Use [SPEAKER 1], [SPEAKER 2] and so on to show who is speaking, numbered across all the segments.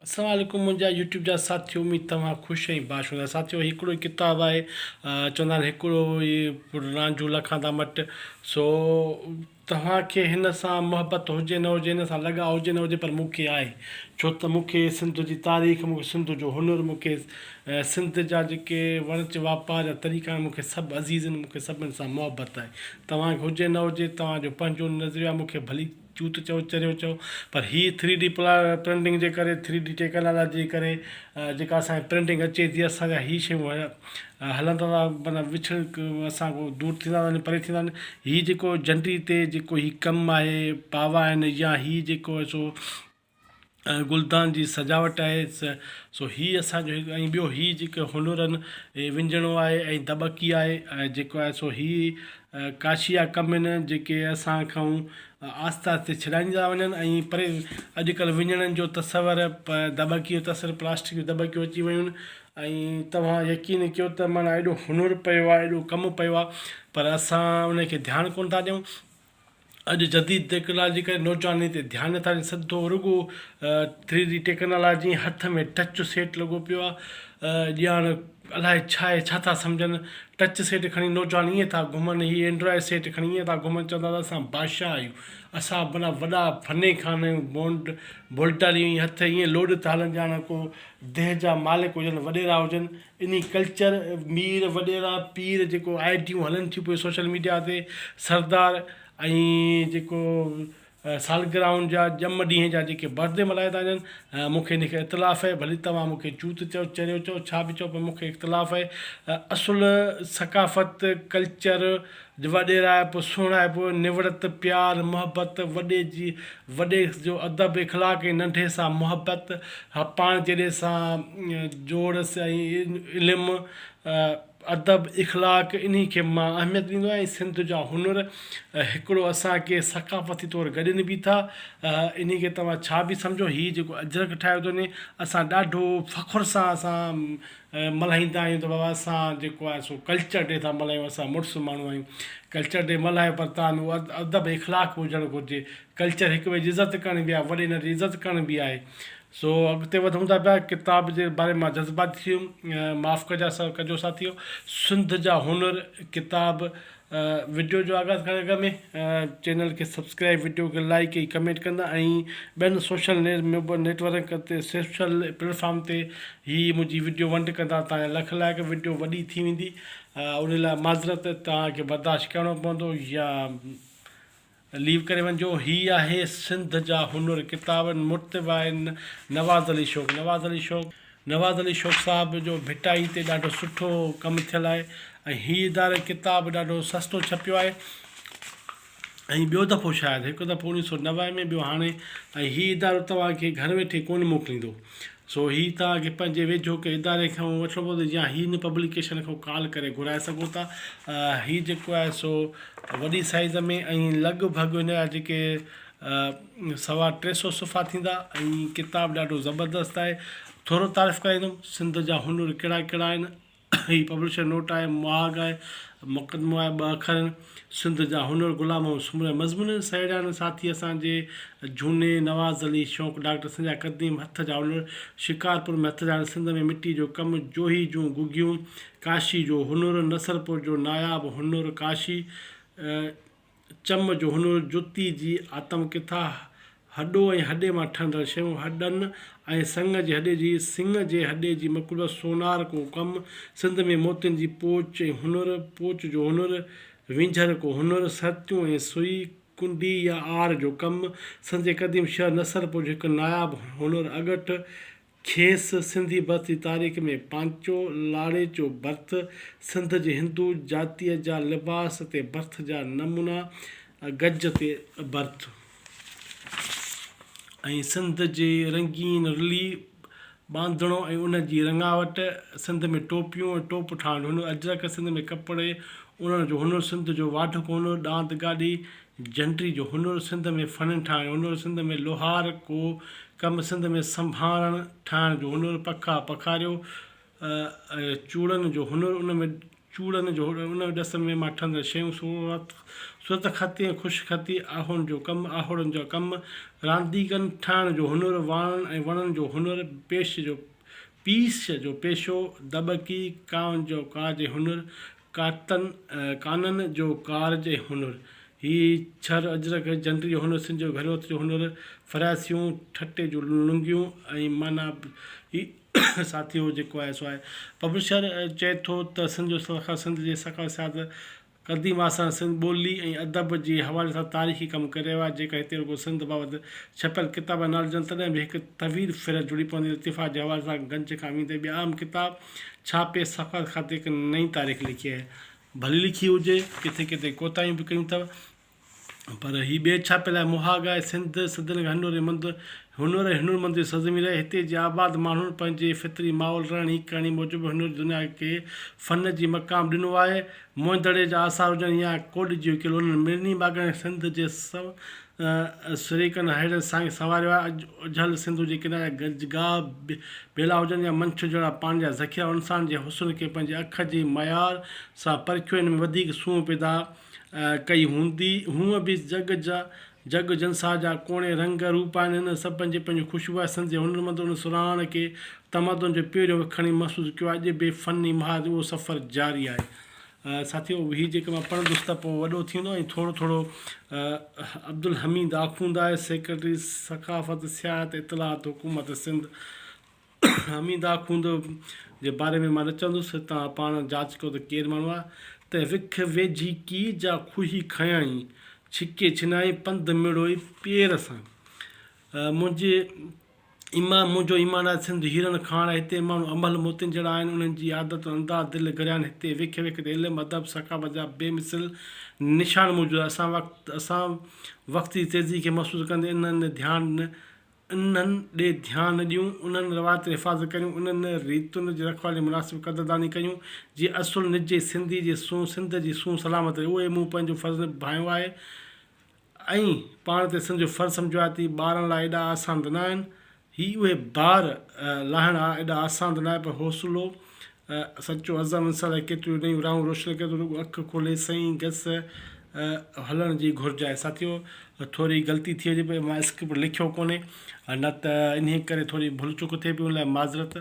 [SPEAKER 1] السلام عليڪم منهنجا يوٽيوب جا ساٿيو اميد توهان خوش ۽ باش هوندا ساٿيو هي هڪڙو ئي ڪتاب آهي چوندا آهن هڪڙو ئي رانجهو لکان ٿا مٽ سو توهان کي هن سان محبت هجي نه هجي هن سان لڳاء هجي نه هجي پر مون کي آهي ڇو ته مون کي سنڌ جي تاريخ مون کي سنڌ جو هنر مون کي سنڌ جا جيڪي وڻج واپار جا طريقا آهن مون کي سڀ عزيز آهن مون کي سڀني سان محبت آهي توهان کي هجي نه هجي توهان جو پنهنجو نظريو آهي مون کي ڀلي چون ته چئو چريو چئو پر هي ٿري ڊي پرنٽنگ جي ڪري ٿري ڊي ٽيڪنالاجي جي ڪري جيڪا اسانکي پرنٽنگ اچي ٿي اسان جا هي شيون هلندا ٿا مطلب وڇڙ اسان کان دور ٿيندا ٿا وڃن پري ٿيندا وڃن هي جيڪو جنڊي تي جيڪو هي ڪم آهي پاوا آهن يا هي جيڪو سو گلدان جي سجاوٽ آهي سو هي اسان جو هڪ ۽ ٻيو هي جيڪو هنرن هي وڃڻو آهي ۽ دٻڪي آهي ۽ جيڪو آهي سو هي ڪاشيا ڪم آهن جيڪي اسان کائون آهستي آهستي ڇڏائيندا ٿا وڃن ۽ پري اڄڪلهه وڃڻن جو تصور دٻڪي جو تصور پلاسٽڪ جون دٻڪيون اچي ويون آهن ۽ توهان يقين ڪيو ته معنيٰ ايڏو هنر پيو آهي ايڏو ڪم پيو آهي پر اسان ان کي ڌيان ڪونه ٿا ڏيون اڄ جديد ٽيڪنالاجي ڪري نوجوانن تي ڌيان نٿا ڏين سڌو رڳو ٿري ڊي ٽيڪنالاجي ۽ هٿ ۾ ٽچ سيٽ لڳو پيو آ ڄاڻ الاء ڇا آهي ڇا ٿا سمجهن ٽچ سيٽ کڻي نوجوان ائين ٿا گهمن هي اينڊرائڊ سيٽ کڻي ائين ٿا گهمن چوندا ته اسان بادشاهه آهيون اسان معنيٰ وڏا فني خان آهيون بونڊ بولٽاري ائين هٿ ائين لوڏ ٿا هلن ڄاڻ ڪو ديھ جا مالڪ هجن وڏيرا هجن انهي ڪلچر، مير، وڏيرا، پير جيڪو آئيڊيون هلن ٿيون پيون سوشل ميڊيا تي سردار ۽ جيڪو سالگرهائن جا ڄم ڏينهن جا جيڪي برٿ ڊي ملهايا ٿا وڃن مون کي انهي کي اختلاف اهي ڀلي توهان مون کي چوت چئو چريو چئو ڇا به چئو پر مون کي اختلاف اهي اصل ثقافت ڪلچر وڏيرائپ، سهڻائپ، نوڙت، پيار، محبت، وڏي جي وڏي جو ادب، اخلاق ۽ ننڍي سان محبت، پاڻ جهڙي سان جوڙس ۽ علم، ادب، اخلاق انهي کي مان اهميت ڏيندو آهيان ۽ سنڌ جا هنر هڪڙو اسان کي ثقافتي طور گڏين به ٿا انهي کي توهان ڇا به سمجهو هي جيڪو اجرڪ ٺاهيو اٿو ني اسان ڏاڍو فخر سان اسان ملهائيندا آهيون ته بابا اسان جيڪو آهي سو ڪلچر ڊي ٿا ملهايون اسان مڙس ماڻهو آهيون ڪلچر ڊي ملهايو پر تان به ادب اخلاق به هجڻ گهرجي ڪلچر هڪ ٻئي جي عزت ڪرڻ به آهي وڏي ننڍي جي عزت ڪرڻ به آهي سو اڳتي وڌون ٿا پيا ڪتاب جي باري مان جذباتي ٿي ويم معاف ڪجا ڪجو ساٿيو سنڌ جا هنر ڪتاب وڊيو جو آغاز ڪرڻ کان اڳ ۾ چينل کي سبسڪرائب وڊيو کي لائيڪ ۽ ڪمينٽ ڪندا ۽ ٻين سوشل نيٽ ورڪ تي سوشل پليٽ فارم تي هي منهنجي وڊيو ونڊ ڪندا تان اها لک لائق وڊيو وڏي ٿي ويندي ان لاء معذرت توهان کي برداشت ڪرڻو پوندو يا ليو ڪري وڃجو هي آهي سنڌ جا هنر ڪتابن مرتب آهن نواز علي شوق نواز علي شوق. نواز علي شوق صاحب جو ڀٽائي تي ڏاڍو سٺو ڪم ٿيل آهي ۽ هي اداري ڪتاب ڏاڍو سستو ڇپيو آهي ۽ ٻيو دفعو شايد هڪ دفعو اوڻيهه سؤ نوي ۾ ٻيو هاڻي ۽ هي ادارو توهان کي گهر ويٺي ڪونه موڪليندو سو هي توهان کي پنهنجي ويجهو ڪنهن اداري کان وٺڻو پوندو يا هي هن پبليڪيشن کان ڪال ڪري گهرائي سگهو ٿا هي جيڪو آهي سو وڏي سائيز ۾ ۽ لڳ ڀڳ هن جا جيڪي سوا ٽي سو صفحا ٿيندا ۽ ڪتاب ڏاڍو زبردست آهي ٿورو تعارف ڪرائيندم سنڌ جا هنر ڪهڙا ڪهڙا آهن هي پبلشر نوٽ آهي، مهاڳ آهي، مقدمو آهي، ٻه اکر آهن، سنڌ جا هنر غلام ۽ سمورا مضمون، سهيڙيان ساٿي اسان جي جهوني نواز علي شوق، ڊاڪٽر سنڌ جا قديم هٿ جا هنر، شڪارپور ۾ هٿ جا هنر، سنڌ ۾ مٽي جو ڪم، جوهي جون گگهيون، ڪاشي جو هنر، نصرپور جو ناياب هنر، ڪاشي، چم جو هنر، جتي جي آتم ڪٿا، هڏو ۽ هڏي مان ٺهندڙ شيون، هڏن ۽ سڱ جي هڏي جي سڱ جي هڏي جي مقلوبه سونار ڪو ڪم، سنڌ ۾ موتين جي پوچ ۽ هنر، پوچ جو هنر، وينجهر ڪو هنر، سرتيون ۽ سوئي، ڪنڊي يا آر جو ڪم، سنڌ جي قديم شهر نصرپور جو هڪ ناياب هنر، اڳٺ، کيس سنڌي برٿ جي تاريخ ۾ پانچو لاڙيچو برٿ، سنڌ جي هندو جاتيء جا لباس تي برٿ جا نمونا، گج تي برٿ ۽ سنڌ جي رنگين رلي، ٻانڌڻو ۽ ان جي رڱاوٽ، سنڌ ۾ ٽوپيون ۽ ٽوپ ٺاهڻ جو هنر، اجرڪ، سنڌ ۾ ڪپڙي اڻڻ جو هنر، سنڌ جو واڍڪو هنر، ڏاند گاڏي، جنٽري جو هنر سنڌ ۾ فن ٺاهڻ جو هنر سنڌ ۾ لوهار ڪو ڪم سنڌ ۾ سنڀارڻ ٺاهڻ جو هنر پکا پکاريو چوڙن جو هنر ان ۾ چوڙن جو هنر ان ڏس ۾ مان ٺهندڙ شيون صورت صورت خطي ۽ خوش خطي آهوڻ جو ڪم آهوڙن جا ڪم رانديڪن ٺاهڻ جو هنر واڻن ۽ وڻن جو هنر پيش جو پيش جو پيشو دٻڪي ڪانء جو ڪاڄ هنر ڪاتن ڪانن جو ڪارج ۽ هنر، هي ڇر اجرڪ جنڊي جو هنر، سنڌ جو گهروت جو هنر، ڦراسيون، ٺٽي جون لنگيون ۽ معنيٰ هي ساٿي هو جيڪو آهي سو آهي. پبلشر چئي ٿو ته سنڌ جو سرخر سنڌ جي ثقافت، سياحت، قديم آثارن، سنڌ ٻولي ۽ ادب جي حوالي سان تاريخي ڪم ڪري رهيو آهي، جيڪڏهن هتي رڳو سنڌ بابت ڇپيل ڪتاب ناليجن تڏهن به هڪ طويل فهرست جڙي پوندي، لطيفات جي حوالي سان گنج کان ويندي ٻيا اهم ڪتاب، ڇا پيس ثقافت کاتي هڪ نئين تاريخ لکي آهي؟ ڀلي لکي هجي، ڪٿي ڪٿي ڪوتاهيون به ڪيون اٿئو، پر هي ٻئي ڇاپي لاء مهاڳ آهي. سنڌ صدين کان هنر ۽ مند هنر ۽ هنرمندن جي سرزمين رهي. هتي جي آباد ماڻهن پنهنجي فطري ماحول، رهڻي ڪهڻي موجب هنر جي دنيا کي فن جي مقام ڏنو آهي. موئن دڙي جا آثار هجن يا ڪوڏجي هڪيل انهن مڙني باغن ۽ سنڌ جي سريڪن ههڙين سائين سنواريو آهي. اڄ اجهل سنڌو جي ڪناري گج گاهه، ٻيلا هجن يا منڇ جهڙا پاڻي جا ذخيرا انسان جي حسن کي پنهنجي اک جي ميار سان پرکيو هن ۾ وڌيڪ سونهن پيدا ڪئي هوندي. هونء به جڳ جا جڳ جنساهه جا ڪوڻي رنگ روپ آهن انهن سڀ پنهنجي پنهنجي خوشبو آهي. سنڌ جي هنرمندن ان سرهاڻ کي تمدن جو پيريو وکڻي محسوس ڪيو آهي. اڄ به فني محاذ اهو سفر جاري آهي. ساٿيو هي جيڪي مان پڙهندس ته پوء وڏو ٿيندو ۽ ٿورو ٿورو عبدالحميد آخونداء سيڪريٽري ثقافت، سياحت، اطلاعات حڪومت سنڌ حميد آخوند جي باري ۾ مان نه چوندس توهان پاڻ جاچ ڪيو ته ڪير ماڻهو آهي ته وک ويجهي ڪي جا کوهي کنيائين ڇڪي ڇنائين پنڌ مڙوئي پير سان منهنجي ايمان منهنجو ايمان آهي سنڌ هيرن کاڻ هتي ماڻهو امهل موتين جهڙا آهن انهن جي عادت ۽ انداز دل گريان هتي ويکي ويکي تي علم ادب ثقافت جا بي مثل نشان موجود آهن اسان وقت اسان وقت جي تيزي کي محسوس ڪندي انهن ڏي ڌيان انهن ڏي ڌيان ڏيون انهن روايتن جي حفاظت ڪريون انهن ريتن جي رکوالي جي مناسب قدرداني ڪيون جي اصل نجي سنڌي جي سون سنڌ جي سون سلامت رهي اهو ئي مون پنهنجو فرض نڀايو آهي ائين پاڻ تي سنڌ جو فرض سمجهيو آهي تي ٻارڻ لاء ايڏا آسان ته نه آهن. هي اهي بار لاهڻ آ ايڏا آسان ته نه آهي پر حوصلو سچو عزم انسان لاء ڪيتريون نيون راهون روشن ڪري ٿو رڳو اک کولي سئين گس هلڻ جي گهرج آهي. ساٿيو ٿوري غلطي ٿي وڃي پئي مان اسڪرپٽ لکيو ڪونهي نه ته انهي ڪري ٿوري ڀل چوڪ ٿئي پئي ان لاء معذرت.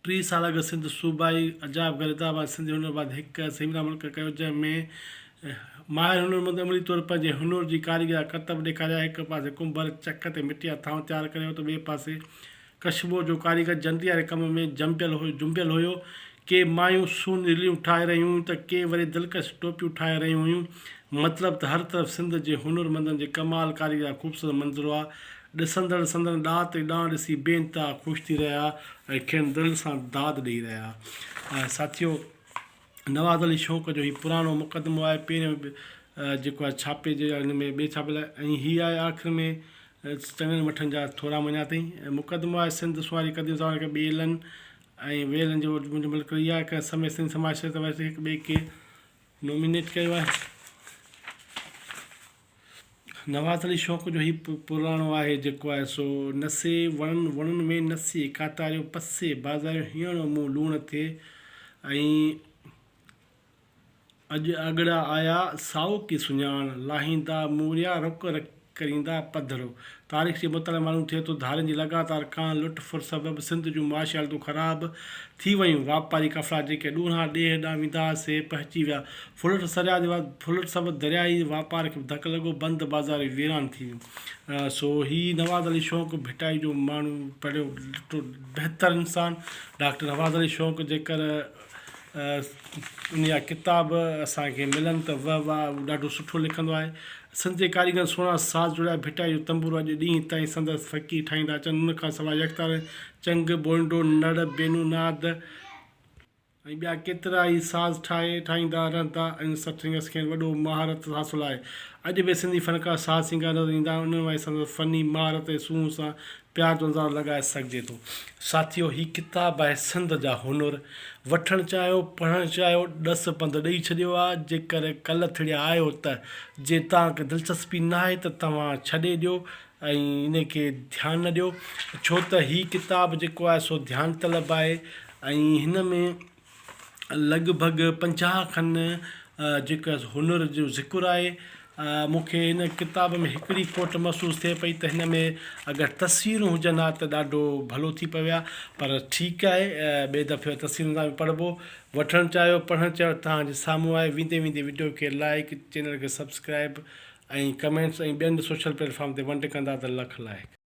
[SPEAKER 1] ٽي سال اڳ سنڌ صوبائي عجائب گهر حيدرآباد سنڌي هنر بعد هڪ سيمينار منعقد ڪيو جنهن ۾ ماهر هنرمند عملي طور پنهنجي هنر جي ڪاريگري جا ڪرتب ڏيکاريا هڪ پاسي ڪنڀر چڪ تي مٽي جا ٿانو تيار ڪري هو ته ٻئي پاسي ڪشمور جو ڪاريگر جنتي واري ڪم ۾ جنبيل هيو ڪي مايون سون رليون ٺاهي رهيون هيون ته ڪي وري دلڪش ٽوپيون ٺاهي رهيون هيون مطلب ته هر طرف سنڌ جي هنرمندن جي ڪمال ڪاريگري جا خوبصورت منظر هئا ڏسندڙ سندن ڏات ۽ ڏانء ڏسي بي انتها خوش ٿي رهيا ۽ کين دل سان داد ڏئي رهيا آهي ساٿيو نواز علي شوق جو هي پراڻو مقدمو آهي پهريون به جيڪو آهي ڇاپي جي ان ۾ ٻي ڇاپي لاء ۽ هي آهي آخر ۾ چڱن مٺن جا ٿورا مڃيا اٿئي ۽ مقدمو آهي سنڌ سواري قديم زماني کان ٻيلن ۽ ويلن جو منهنجو ملڪ رهي آهي ڪنهن سمي سنڌ سماج شريعت ورثي هڪ ٻئي کي نومينيٽ ڪيو آهي نواز علي شوق جو هي پراڻو آهي جيڪو آهي سو نسي وڻن وڻن وين نسي ڪاتاريو پسي بازاريون هيڻو مون لوڻ ٿئي ۽ اڄ آڳڙا آيا سائو ڪي سڃاڻ لاهيندا موريا رڪ رڪ ڪريندا پڌرو تاريخ جي مطالعي مان معلوم ٿئي ٿو ڌارين جي لڳاتار ڪاهن لٽ ڦر سبب سنڌ جون معاشي حالتون خراب ٿي ويون واپاري قفلا جيڪي ڏورانهان ڏيهه ڏانهن ويندا هئا سي پهچي ويا ڦلٽ سرياح جي بعد ڦلٽ سبب درياهي واپار کي به ڌڪ لڳو، بند بازار به ويران ٿي ويون. سو هي نواز علي شوق ڀٽائي جو ماڻهو پڙهيو ڏٺو بهتر انسان ڊاڪٽر نواز علي شوق جيڪر ان جا ڪتاب اسان کي ملن ته وه واه هو ڏاڍو سٺو لکندو آهي. سنڌ جي ڪاريگرن سهڻا ساز جوڙيا ڀٽائي جو تنبورو اڄ ڏينهن تائين سندس فقير ٺاهيندا اچن ان کان سواء يڪتارن، چنگ، بولڊو، نڙ، بينو ناد، ۽ ٻيا ڪيترائي ساز ٺاهي ٺاهيندا رهندا ۽ سٺرينگس کين وڏو مهارت حاصل آهي. اڄ به سنڌي فنڪار ساز سينگار نظر ايندا آهن انهن مان ئي سندن فني مهارت ۽ سونهن سان پيار جو اندازو لڳائي سگهجي ٿو. ساٿيو هي ڪتاب آهي سنڌ جا هنر. وٺڻ چاهيو پڙهڻ چاهيو ڏس پنڌ ڏئي ڇڏيو آ جيڪر ڪلٿڙيا آهيو ته جي تان کي دلچسپي ناهي ته توهان ڇڏي ڏيو ۽ ان کي ڌيان نه ڏيو ڇو ته هي ڪتاب جيڪو آهي سو ڌيان طلب آهي ۽ هن ۾ لڳ ڀڳ پنجاهه کن جيڪا هنر جو ذڪر آهي مون کي هن ڪتاب ۾ هڪڙي کوٽ محسوس ٿئي پئي ته هن ۾ اگر تصويرون هجن ها ته ڏاڍو ڀلو ٿي پوي ها پر ٺيڪ آهي ٻئي دفعي تصويرن سان به پڙهبو وٺڻ چاهيو پڙهڻ چاهيو توهان جي سامهون آهي ويندي ويندي وڊيو کي لائيڪ چينل کي سبسڪرائيب ۽ ڪمينٽس ۽ ٻين سوشل پليٽ فارم تي ونڊ ڪندا ته لک لائيڪ.